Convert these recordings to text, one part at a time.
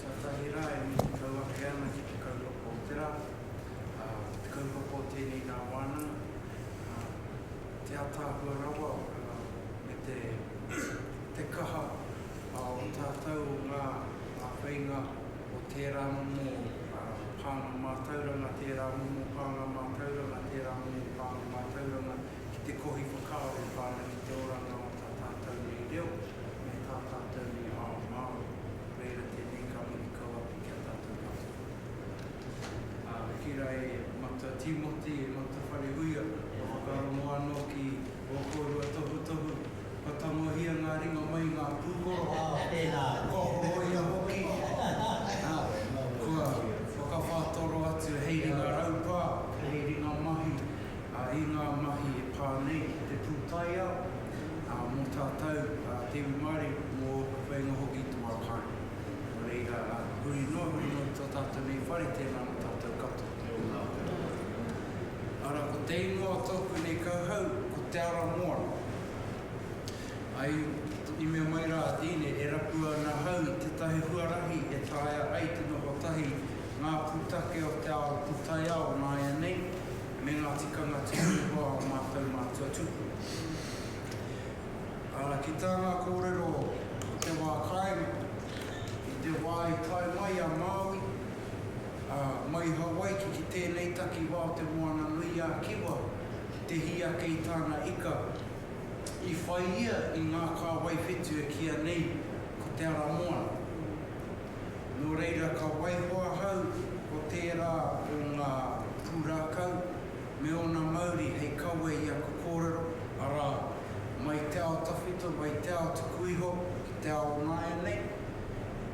Tuatahi rā e matatau ake ana ki te kaupapa o te rā, ā, te kaupapa o tēnei nā wānanga, ā, te ataahua rawa, ā, me te, te kaha, ā, o tātou, o ngā, ngā whainga o tērā momo, ā, pānga mātauranga, tērā momo pānga mātauranga, tērā momo pānga mātauranga ki te kohi whakaaro whānui i te oranga o tā tātou nei reo me tā tātou nei ao Māori, reira tēnei ka mihi kau ake ki a tātou katoa. Ā, ki rā e Matua Tīmoti, e Matua Wharehuia, kua whakarongo anō ki ō kōrua tohutohu, kua tangohia ngā ringa mai i ngā pūkoro, kua horoia hoki, ā, kua whakawhātoro atu hei ringa raupā, hei ringa mahi, ā, i ngā mahi e pā nei ki te pūtaiao, ā, mō tātou, ā, te iwi Māori, mō ōku whainga hoki i te wā kāinga. Nō reira, ā, huri noa, huri noa ki tō tātou nei whare, tēnā mō tātou katoa. Kia ora, kia ora. Ara, ko te ingoa o tōku nei kauhau, ko Te Ara Moana. I, i mea mai rā a Deane, e rapua ana ahau i tētahi huarahi e taea ai te noho tahi ngā pūtake o te ao pūtaiao nāianei, me ngā tikanga tino hua o ā mātou mātua tūpuna. Ā, ki tā ngā kōrero o te wā kāinga, i te wā i tae mai a Māui, ā, mai Hawaiki ki tēnei takiwā o Te Moana-nui-ā-Kiwa ki te hī ake i tāna ika, i whai ia i ngā kāwai whetu e kīa nei ko Te Ara Moana. Nō reira ka waiho ahau ko tērā o ngā pūrākau me ōna mauri hei kawe i aku kōrero, arā, mai te ao tawhito, mai te ao tuku iho ki te ao o nāianei,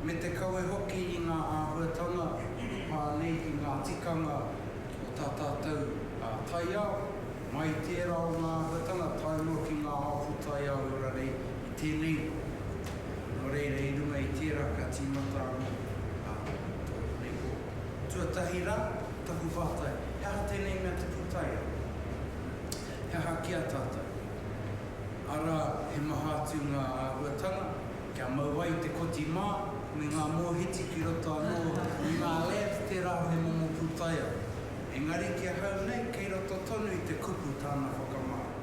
me te kawe hoki i ngā āhuatanga e pā nei ki ngā tikanga o tā tātou taiao. Mai i tērā o ngā āhuatanga tae noa ki ngā hapū taiāwai rarei i tēnei rohe. Nō reira, i runga i tērā ka tīmata anō ā tōku nei kōrero. Tuatahi rā, taku pātai, he aha tēnei mea te pūtaiao? He aha ki a tātou? Arā, he maha atu ngā āhuatanga kia mau ai te koti mā me ngā mōhiti ki roto anō i ngā lab tērā he momo pūtaiao. Engari ki ahau nei kei roto tonu i te kupu tāna whakamāra.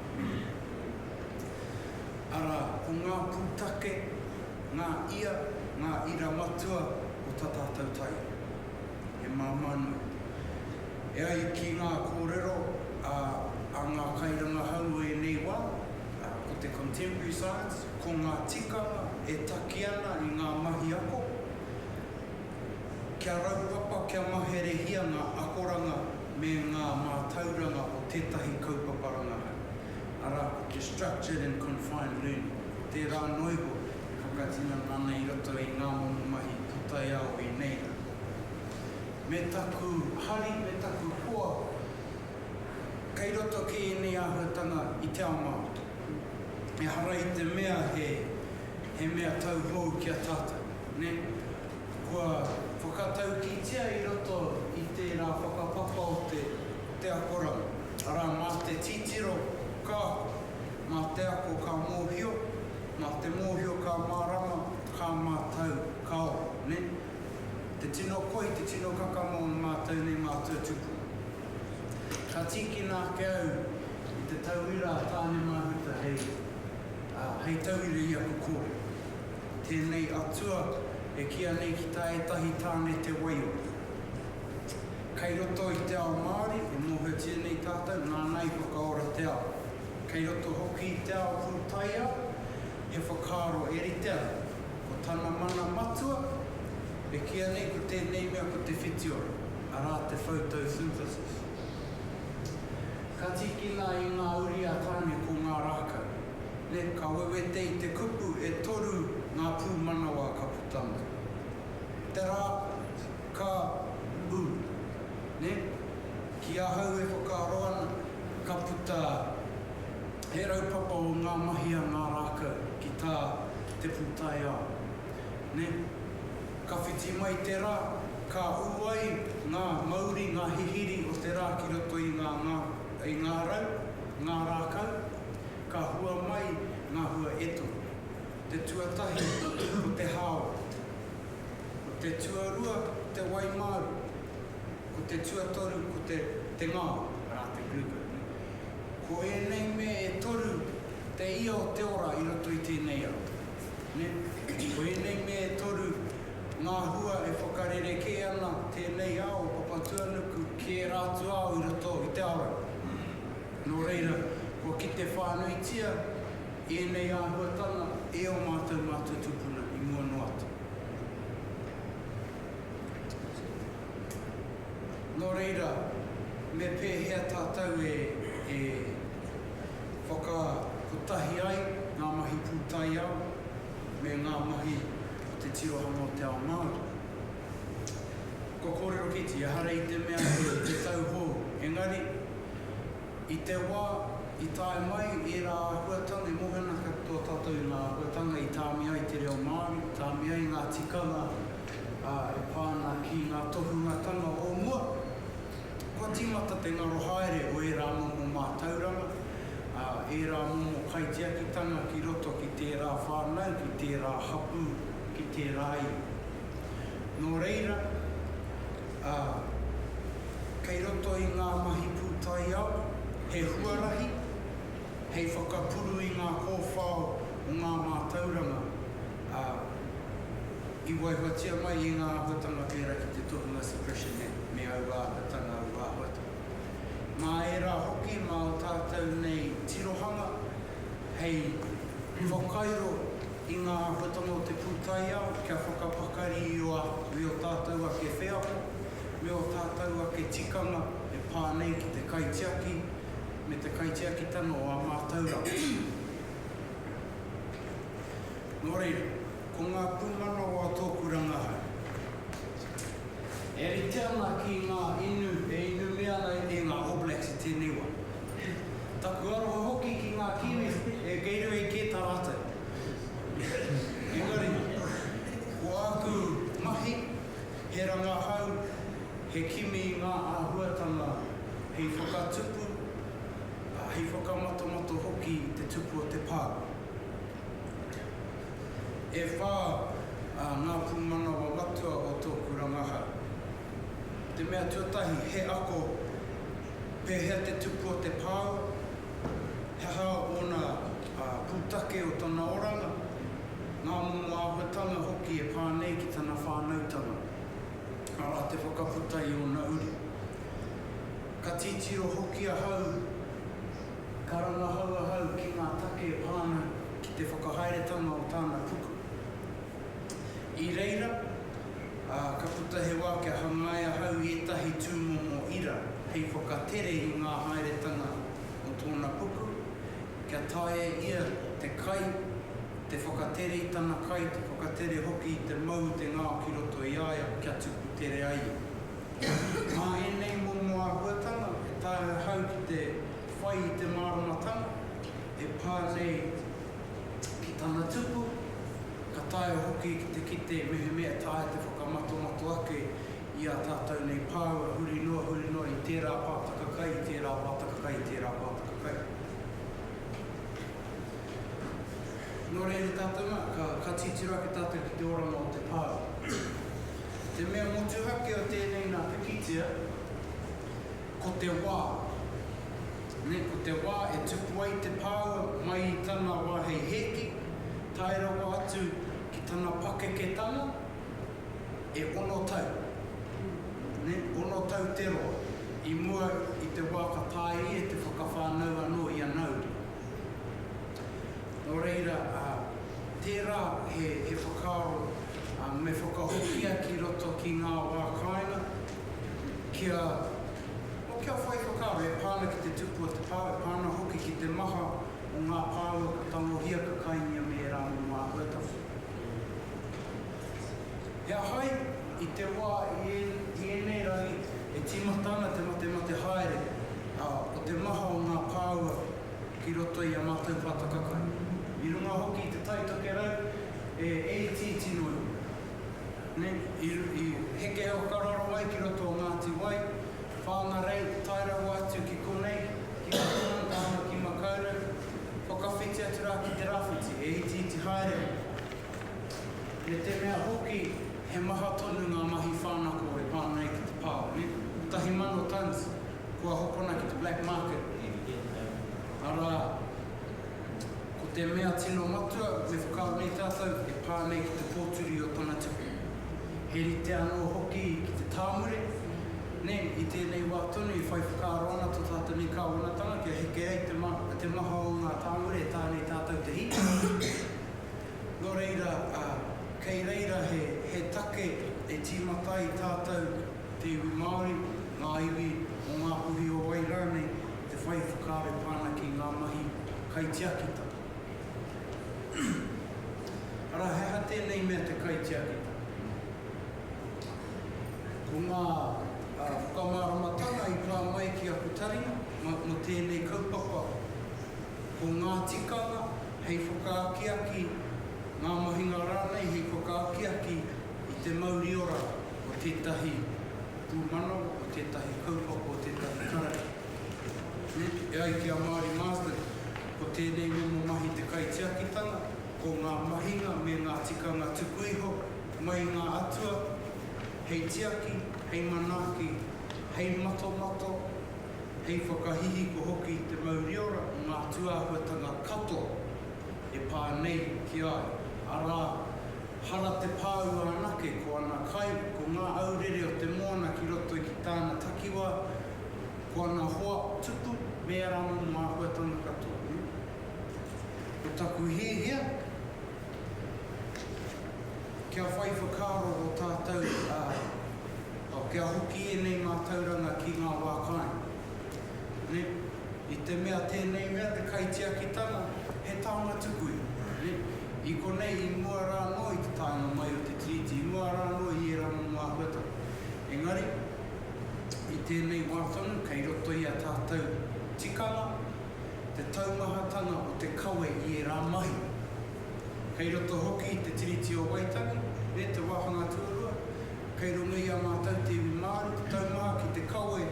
Arā, ko ngā pūtake, ngā ia, ngā ira matua o tā tātou taiao. He māmā nui. E ai ki ngā kōrero a ngā kairangahau o ēnei wā, ko te contemporary science, ko ngā tikanga e taki ana i ngā mahi ako, Kia raupapa, kia maherehia ngā akoranga me ngā mātauranga o tētahi kaupapa rangahau, arā, ko te Structured and Confined Learning, tērā anō iho e whakatinana ana i roto i ngā momo mahi pūtaiao i nei rā. Me taku hari, me taku hoa, kei roto kē ēnei āhuatanga i te ao Māori. Ehara i te mea he. He mea tauhou ki a tātou, nē? Kua whakataukitia i roto i tērā whakapapa o te, te akoranga, arā, mā te titiro ka ako, mā te ako ka mōhio, mā te mōhio ka mārama, ka mātau, ka ora, nē? Te tino koi, te tino kakama o mātou nei mātua tupuna. Ka tīkina ake au i te tauira a Tāne Mahuta hei. Ā, hei tauira i aku kōrero, tēnei Atua e kīa nei ki tā ētahi tāne te waiora. Kei roto i te ao Māori e mōhiotia nei tātou nāna i whakaora te ao. Kei roto hoki i te ao pūtaiao he whakaaro e rite ana, ko tana mana matua e kīa nei ko tēnei mea ko te whitiora, arā te photosynthisis. Ka tīkina i ngā uri a Tāne ko ngā rākau. Nē, ka wewete i te kupu e toru ngā pūmanawa ka puta mai. Te rā ka ū, nē, ki ahau e whakaaro ana, ka puta he raupapa o ngā mahi a ngā rākau ki tā te pūtaiao, nē. Ka whiti mai te rā, ka ū ai ngā mauri, ngā hihiri o te rā ki roto i ngā ngā, i ngā rau, ngā rākau, ka hua mai ngā hua e toru. Te tuatahi ko te hāora. Ko te tuarua ko te wai māu. Ko te tuatoru ko te, te ngao, arā te bluebird, nē. Ko ēnei mea e toru te ia o te ora i roto i tēnei ao. Ko ēnei mea e toru ngā hua e whakarerekē ana tēnei ao o Papatuanuku. Ki ērā atu ao i roto i te awa. Nō reira, kua kite whānuitia ēnei āhuatanga e ō mātou mātua tūpuna i mua noa atu. Nō reira, me pēhea tātou e. Whakakotahi ai ngā mahi pūtaiao me ngā mahi o te tirohanga o te ao Māori. Kua kōrero kīti, ehara i te mea he te tau hou, engari, i te wā i tae mai ērā āhuatanga, i mōhenaka tō tātou i ngā āhuatanga i tāmi ai te reo Māori, i tāmi ai ngā tikanga e pā ana ki ngā tohungatanga o mua. Kua tīmata te ngaro haere o ērā momo mātauranga, ā, ērā momo kaitiakitanga ki roto ki tērā whānau, ki tērā hapū, ki tērā iwi. Nō reira, ā, kei roto i ngā mahi pūtaiao, he huarahi hei whakapuru i ngā kōwhao o ngā mātauranga, ā, I waihoatia mai e ngā āhuatanga pērā ki te tohunga Suppression Act me aua āhuatanga, aua āhuatanga. Mā ērā hoki, mā ō tātou nei tirohanga hei whakairo i ngā āhuatanga o te pūtaiao kia whakapakari i ō āhuatanga me ō tātou ake wheako, me ō tātou ake tikanga e pā nei ki te kaitiaki me te kaitiakitanga o ā mātauranga. Nō reira. Ko ngā pūmanawa tōku rangahau. E rite ana ki ngā inu e inu me ana e ngā All Blacks i tēnei wā. Taku aroha hoki ki ngā Kiwis e Gatorade kē tā rātou. Engari, ko āku mahi, he rangahau, he kimi i ngā āhuatanga hei whakatupu, hei whakamatomato hoki i te tupu o te pā. E whā ā ngā pūmanawa matua o tōku rangahau. Te mea tuatahi, he ako, pēhea te tupu o te pāu, he aha ōna pūtake o tana oranga, ngā momo āhuatanga hoki e pā nei ki tana whānautanga, arā te whakaputa i ōna uri. Ka titiro hoki ahau, ka rangahau ahau ki ngā take e pā ana ki. i te whakahaeretanga o tāna puku. I reira, ā, ka puta he wā kia hangai ahau i ētahi tūmomo ira hei whakatere i ngā haeretanga o tōna puku, kia taea e ia te kai, te whakatere i tana kai, te whakatere hoki i te mau i te ngao ki roto i a ia kia tuku tere ai ia. Mā ēnei momo āhuatanga e taea ahau ki te whai i te māramatanga, He pā nei ki tana tupu, ka taea hoki ki te kite mehemea taea te whakamatomato ake i ā tātou nei pāua huri noa, huri noa i tērā pātaka kai, i tērā pātaka kai, i tērā pātaka kai. Nō reira tātou nā, ka titiro ake tātou ki te oranga o te pā. Te mea motuhake o tēnei nā pikitia, Ko te wā. Nē, ko te wā e tupu ai te pāua mai i tana wā hei hēki, tae rawa atu ki tana pakeketanga, e ono tau. Nē, ono tau te roa, i mua i te wā ka taea ia te whakawhānau anō i a Nauru. Nō reira, tērā he whakaaro me whakahokia ki roto ki ngā wā kāinga, kia, oh, kia whai whakaaro e pā ana ki te tupu o te pao, e pā ana hoki ki te maha o ngā pāua ka tangohia, ka kaingia me ērā momo āhuatawhiti. He aha i te wā i ēnei rangi e tīmata ana te matemate haere o te maha o ngā pāua ki roto i a mātou pātaka kai? I runga hoki i te taitokerau e itiiti noa iho. I heke au ka raro mai ki roto o Ngāti Wai, Whāngarei, tae rawa atu ki konei, ki Mahuman tāna ki Makaurau, whakawhiti atu rā ki te rāwhiti, he itiiti haere au. Me te mea hoki he maha tonu ngā mahi whānako e pā nei ki te pā, nē? Kotahi mano tons kua hokona ki te black market, arā, Ko te mea tino matua, me whakaaro nei tātou, e pā nei ki te pōturi o tana tuku. He rite anō hoki ki te tāmure, nē, i tēnei wā tonu e whai whakaaro ana tō tātou nei kāwanatanga kia heke ai te maha o ngā tāmure e tā nei tātou te hīkoi. Nō reira, kei reira he take e tīmata ai tātou, te iwi Māori, ngā iwi o ngā puhi o wai rānei te whai whakaaro i pā ana ki ngā mahi kaitiakitanga. Arā, he aha tēnei mea te kaitiakitanga? Ko ngā whakamāramatanga i pā mai ki aku taringa mō tēnei kaupapa, ko ngā tikanga hei whakaakiaki, ngā mahinga rānei hei whakaakiaki i te mauri ora o tētahi pūmanawa, o tētahi kaupapa, o tētahi karakia. E ai ki a Māori Marsden, ko tēnei momo mahi te kaitiakitanga, ko ngā mahinga me ngā tikanga tuku iho mai i ngā atua hei tiaki, hei manaaki, hei matomato, hei whakahihiko hoki i te mauriora o ngā tūāhuatanga katoa. e pā nei ki a au, arā, hara te pāua anake ko ana kai, ko ngā aurere o te moana ki roto i ki tāna takiwā, ko ana hoa tupu me ērā momo āhuatanga katoa. Ko taku hiahia, kia whai whakaaro ō tātou, ā, kia hoki ēnei mātauranga ki ngā wā kāinga. I te mea tēnei mea te kaitiakitanga, he taonga tuku iho. I konei, i mua rā anō i te taenga mai o te Tiriti, i mua rā anō i ērā momo āhuatanga. Engari, i tēnei wā tonu, kei roto i a tātou tikanga te taumahatanga o te kawe i ērā mahi. Kei roto hoki i te Tiriti o Waitangi, nē, te wāhanga tuarua, kei runga i a mātou te iwi Māori, te taumaha ki te kawe,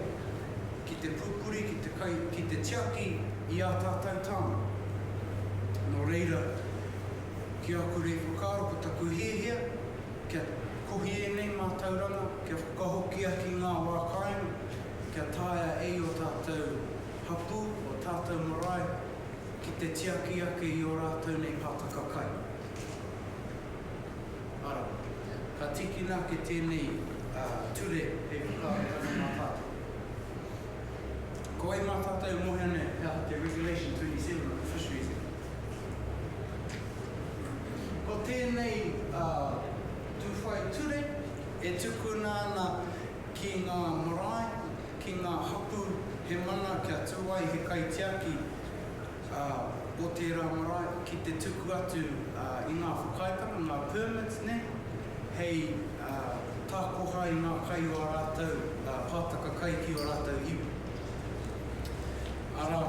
ki te pūpuri, ki te kai, ki te tiaki i ā tātou tāone. Nō reira, ki aku rei whakaaro, ko taku hiahia, kia kohi ēnei mātauranga, kia whakahokia ki ngā wā kāinga, kia taea e ō tātou hapū, ō tātou marae, ki te tiaki ake i ō rātou nei pātaka kai. Arā, ka tīkina ake tēnei ture hei whakaaro tonu mā tātou. Ko wai mā tātou e mōhio nei he aha te Regulation 27 o te Fisheries Act? Ko tēnei tūwhai ture e tukuna ana ki ngā marae, ki ngā hapū he mana kia tū ai he kaitiaki, ā, o tērā marae ki te tuku atu i ngā whakaaetanga, ngā permits nei, hei takoha i ngā kai o ā rātou pātaka kai ki ō rātou iwi. Arā,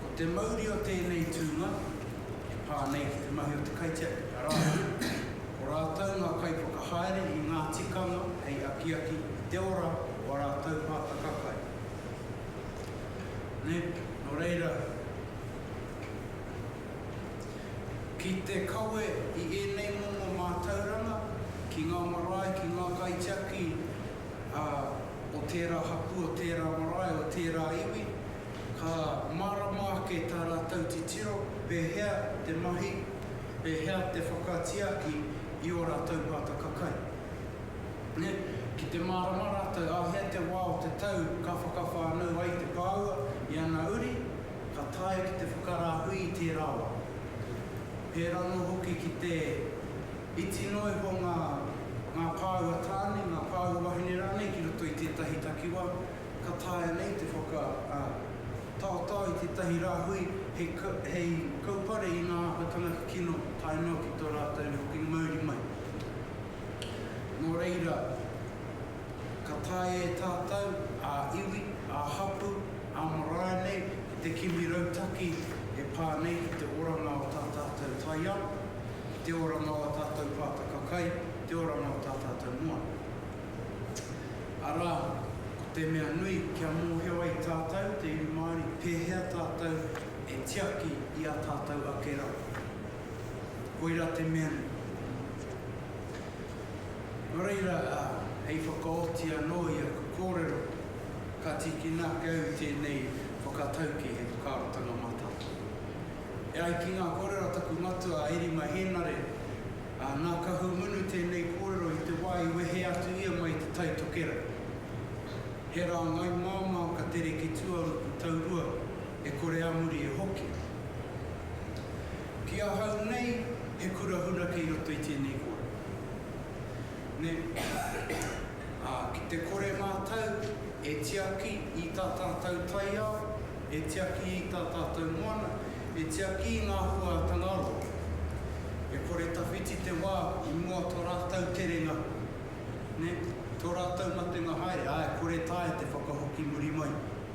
ko te mauri o tēnei tūnga e pā nei ki te mahi o te kaitiaki, arā, ko rātou ngā kaiwhakahaere i ngā tikanga hei akiaki i te ora o ā rātou pātaka kai. Nep, Nō reira, ki te kawe i ēnei momo mātauranga ki ngā marae, ki ngā kaitiaki o tērā hapū, o tērā marae, o tērā iwi, ka mārama ake tā rātou titiro, pēhea te mahi, pēhea te whakatiaki i ō rātou pātaka kai. Ki te mārama rātou āhea te wā o te tau ka whakawhānau ai te pāua i ana uri, ka taea ki te whakarāhui i tērā wā. Pērā anō hoki ki te iti noa iho ngā ngā pāua tāne, ngā pāua wahine rānei ki roto i tētahi takiwā, ka taea nei te whaka taotao i tētahi rāhui hei kaupare i ngā āhuatanga kikino tae noa ki tō rātou hokinga mauri mai. Nō reira, ka taea e tātou, ā-iwi, ā-hapū, ā-marae nei, te kimi rautaki e pā nei ki te oranga o tā tātou taiao, ki te oranga o ā tātou pātaka kai, ki te oranga o tā tātou moana. Arā, ko te mea nui, kia mōhio ai tātou, te iwi Māori, pēhea tātou e tiaki i ā tātou ake rā. Koira te mea nei. Nō reira, ā, hei whakaoti anō i aku kōrero, ka tīkina ake au i tēnei whakatauki hei whakaarotanga mātātoa. E ai ki ngā kōrero a taku matua a Erima Hēnare, ā, nā Kahungunu tēnei kōrero i te wā i wehe atu ia mai i te Tai Tokerau. He rāngai māmā ka tere ki Tuaruku taurua e kore a muri e hoki. Ki ahau nei, he kura huna kei roto i tēnei kōrero. Nē? Ā, ki te kore mātou e tiaki i tā tātou taiao, e tiaki i tā tātou moana, e tiaki i ngā huātanga roa, e kore tawhiti te wā i mua tō rātou terenga, nē, tō rātou matenga haere, ā, e kore taea te whakahoki muri mai.